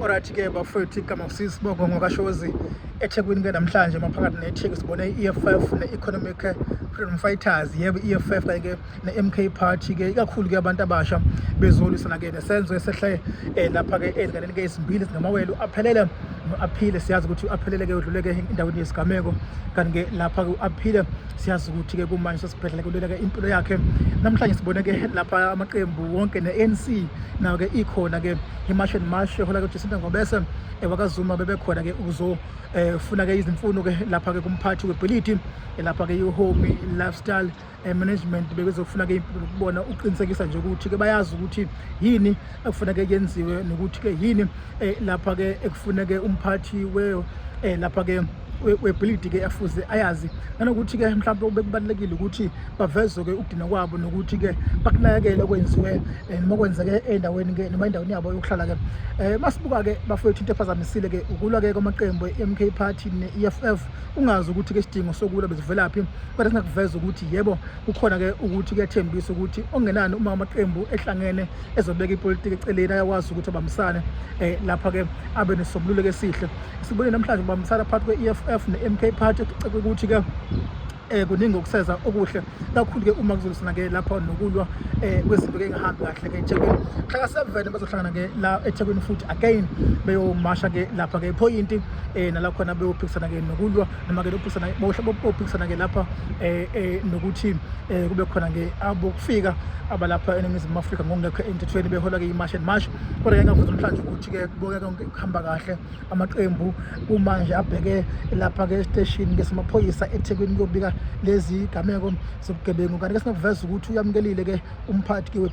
Alright ke bafethu igama kusisi Bongo ngokashozi eThekwini ke namhlanje maphakathi neTheku sibone i-EFF ne-Economic Freedom Fighters yebo i-EFF kanye ke ne-MK Party ke ikakhulu ke abantu abasha bezolwisana ke nesenzo esehle eh, lapha ke ezinganeni ke ezimbili zingamawele aphelele no-aphile siyazi ukuthi u-aphelele ke udlule ke endaweni yesigameko kanti ke lapha ke u-aphile siyazi ukuthi-ke kumanje sesibhedlela kuleleke impilo yakhe namhlanje sibone-ke lapha amaqembu wonke ne-anc nayo-ke ikhona-ke imash and mash ehola kujacinta ngobese ewakazuma eh, bebekhona-ke ukuzofuna-ke eh, izimfuno-ke lapha-ke kumphathi webhilidi eh, lapha-ke ihome lifestyle management bebezofuna-ke impilo kubona ukuqinisekisa nje ukuthi-ke bayazi ukuthi yini ekufuneke yenziwe nokuthi-ke yini lapha-ke ekufuneke umphathi we lapha-ke webhilidi ke afuze ayazi nanokuthi ke mhlawumbe ubekubalekile ukuthi bavezwe ke ukudina kwabo nokuthi ke bakunakekele okwenziwe eh, noma kwenzeke endaweni ke noma endaweni yabo yokuhlala ke eh masibuka ke bafowethu into ephazamisile ke ukulwa ke kwamaqembu eMK Party neEFF ungazi ukuthi ke sidingo sokulwa bezivelaphi kodwa singakuveza ukuthi yebo kukhona ke ukuthi kuyathembisa ukuthi ongenani uma amaqembu ehlangene ezobeka ipolitiki eceleni ayakwazi ukuthi abambisane eh lapha ke abe nesobululeko esihle Sibone namhlanje ubambisana phakathi kwe-EFF ne-MK Party kuceke ukuthi ke eh kuningi okuseza okuhle kakhulu ke uma kuzosina ke lapha nokulwa eh kwezinto ke engahambi kahle ke eThekwini hlaka sevene bazohlangana ke la eThekwini futhi again beyomasha ke lapha ke point eh nala khona beyophikisana ke nokulwa noma ke lophikisana bohle bophikisana ke lapha eh, eh nokuthi eh, kube khona ke abokufika abalapha eNingizimu Afrika ngokungekho emthethweni behola ke imarch and march kodwa ke ngavuza namhlanje ukuthi ke kuboka konke kuhamba kahle amaqembu kumanje abheke lapha-ke esiteshini ke samaphoyisa ethekwini kuyobika lezi gameko zobugebengu kanti ke singakuveza ukuthi uyamukelile-ke umphathi